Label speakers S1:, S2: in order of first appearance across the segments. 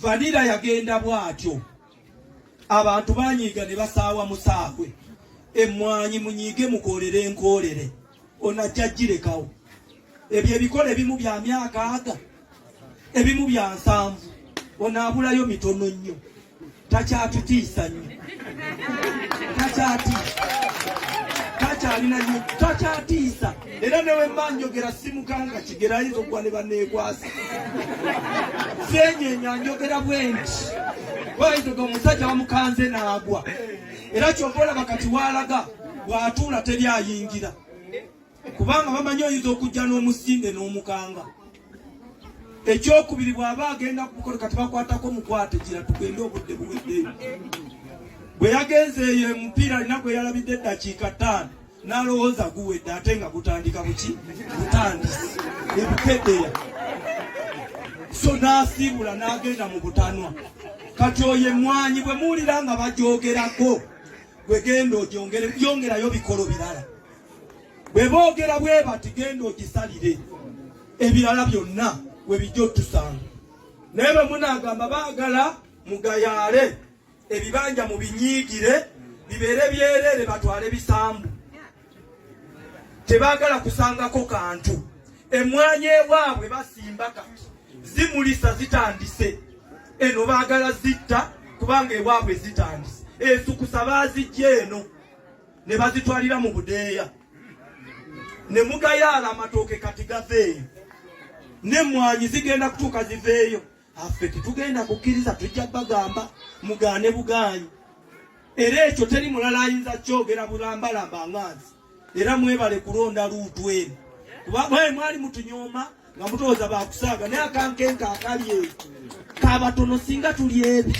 S1: vanira yagenda bwatyo abantu banyiiga ne basaawa musaabwe emmwanyi munyiige mukoolere enkoolere onajja girekawo ebyo ebikola ebimu bya myaka aga ebimu bya nsanvu onaabulayo mitono nnyo takyatutiisa nyo takyatiisa takyalina nyo takyatiisa era newemba njogera simukanga kigera ayinza okuwa ne baneekwasa senyenya njogera bwenti bayinzaga omusajja bamukanze naagwa era kyova olaba kati waalaga bw'atuula teri ayingira kubanga bamanyi oyinza okujja n'omusinde n'omukanga ekyokubiri bw'aba agenda kukola kati bakwatako mukwate gira tugende obudde buweddeyo bwe yagenze eyo omupiira alina gwe yalabidde eddakiika ttaano n'alowooza guwedde ate nga gutandika buki butandisi ebukedeya so n'asiibula n'agenda mu butanwa kati oyo emmwanyi bwe muwulira nga bagyogerako bwe genda ogyongerayo bikolo birala bwe boogera bwe bati genda ogisalire ebirala byonna we bijja otusanga naye bwe munaagamba baagala mugayaale ebibanja mu binyiigire bibeere byereere batwale bisambu tebaagala kusangako kantu emwanyi ewaabwe basimba kati zimulisa zitandise eno baagala zitta kubanga ewaabwe zitandise esukusa baazijja eno ne bazitwalira mu budeeya ne mugayaala amatooke kati gaveeyo n'emmwanyi zigenda kutuuka ziveeyo affe tetugenda kukkiriza tujja bagamba mugaane bugaanyi era ekyo teri mulala ayinza kyogera bulambalamba nganzi era mwebale kulonda luutu eno kuba mwali mutunyooma nga mutooza bakusaaga naye akankenka akali eyo kabatono singa tuli ebi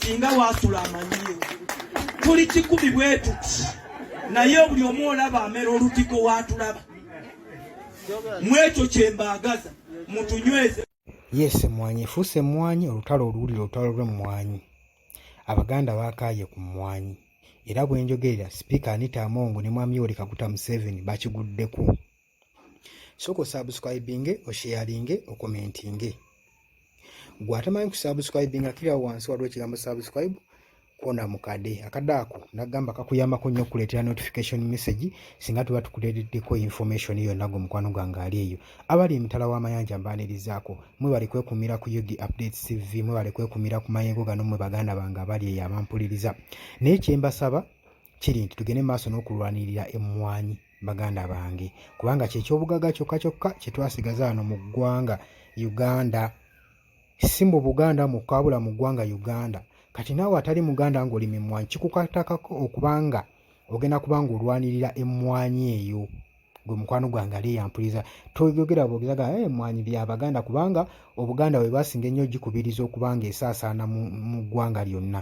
S1: singa waasula amanyiyo tuli kikumi bwetuti naye buli omu olaba amera olutiko waatulaba mwekyo kyembaagaza mutunyweze yes emwanyi
S2: efuuse emwanyi olutalo oluwulira olutalo lw'emmwanyi abaganda baakaaye ku mmwanyi era bwenjogerera sipiika anita amongo ne mwami yoweri kaguta museveni bakiguddeko sooka osubscribinge osharinge okomentinge gwe atamanyi kusubscribinga kiriawo wansi waliwo ekigambo subscribe kona mukade akade ako nagamba kakuyambako nnyo okukuleetera notification message singa tuba tukuleeteddeko information yonna gwe mukwano gwange ali eyo abali emitala w'amayanja mbaanirizaako mwebale kwekumira ku ug update cv mwebale kwekumira ku mayengo gano mwe baganda bange abali eyo abampuliriza naye kyembasaba kiri nti tugende mu maaso n'okulwanirira emmwanyi baganda bange kubanga kyekyobugaga kyokka kyokka kye twasigaza wano mu ggwanga uganda si mu buganda mukka wabula mu ggwanga uganda kati naawe atali muganda ng'oli mimwanyi kikukatakako okubanga ogenda kubanga olwanirira emmwanyi eyo gwe mukwano gwange ali eyampuliza toyogera bwogezaga eh, emmwanyi bya baganda kubanga obuganda bwe basinga ennyo gikubiriza okubanga esaasaana mu ggwanga lyonna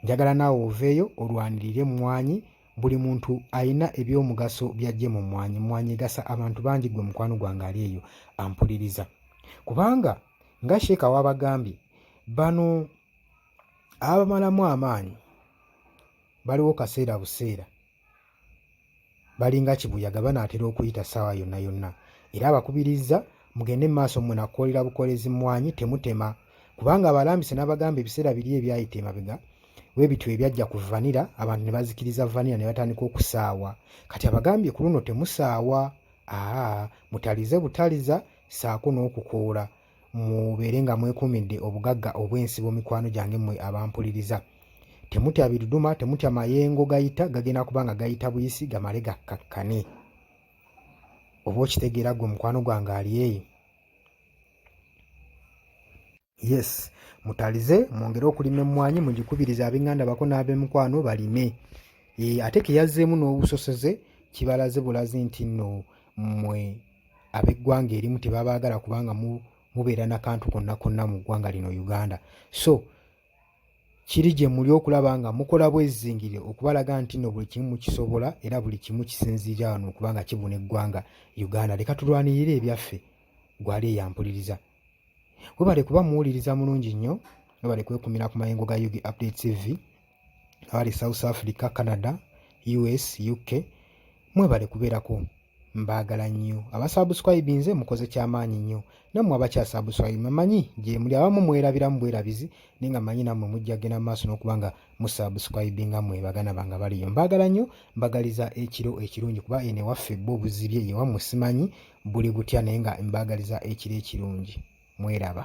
S2: Njagala naawe oveeyo olwanirire mmwanyi buli muntu alina ebyomugaso byajje mu mmwanyi. Mmwanyi egasa abantu bangi gwe mukwano gwange ali eyo ampuliriza. Kubanga nga sheeka wabagambye bano abamalamu amaanyi baliwo kaseera buseera balinga kibuyaga banaatera okuyita ssaawa yonna yonna era abakubirizza mugende maaso mmwe nakukolera bukolezi mmwanyi temutema kubanga abalambise n'abagamba ebiseera biri ebyayita emabega webityo ebyajja ku vanira abantu ne bazikiriza vanira ne batandika okusaawa kati abagambye ku luno temusaawa aa mutalize butaliza saako n'okukoola mubeere nga mwekuumidde obugagga obw'ensi bw'omikwano gyange mmwe abampuliriza temutya biduduma temutya mayengo gayita gagenda kuba nga gayita buyisi gamale gakkakkane oba okitegeera gwe mukwano gwange ali eyo yes mutalize mwongere okulima emmwanyi mugikubiriza abenganda bako n'abemikwano balime ate keyazzeemu n'obusoseze kibalaze bulazi nti nno mmwe ab'eggwanga erimu tebabaagala kubanga mubeera na kantu konna konna mu ggwanga lino Uganda so kiri gye muli okulaba nga mukola bwezingire okubalaga nti no buli kimu mukisobola era buli kimu kisinziira wano okuba nga kibuna eggwanga Uganda leka tulwanirire ebyaffe gwali eyampuliriza webale kuba muwuliriza mulungi nnyo webale kwekumira ku mayengo ga yugi update tv abali south africa canada us uk mwebale kubeerako mbaagala nnyo abasabuscribe nze mukoze kyamaanyi nnyo nammwe abakyasabuscribe mamanyi gyemuli abamu mwerabiramu bwerabizi naye nga manyi nammwe mujja genda maaso n'okuba nga musabuscribe nga mwe bagana banga baliyo mbaagala nnyo mbagaliza ekiro ekirungi kuba ene waffe bo buzibye yewammwe simanyi buli butya naye nga mbaagaliza ekiro ekirungi mweraba.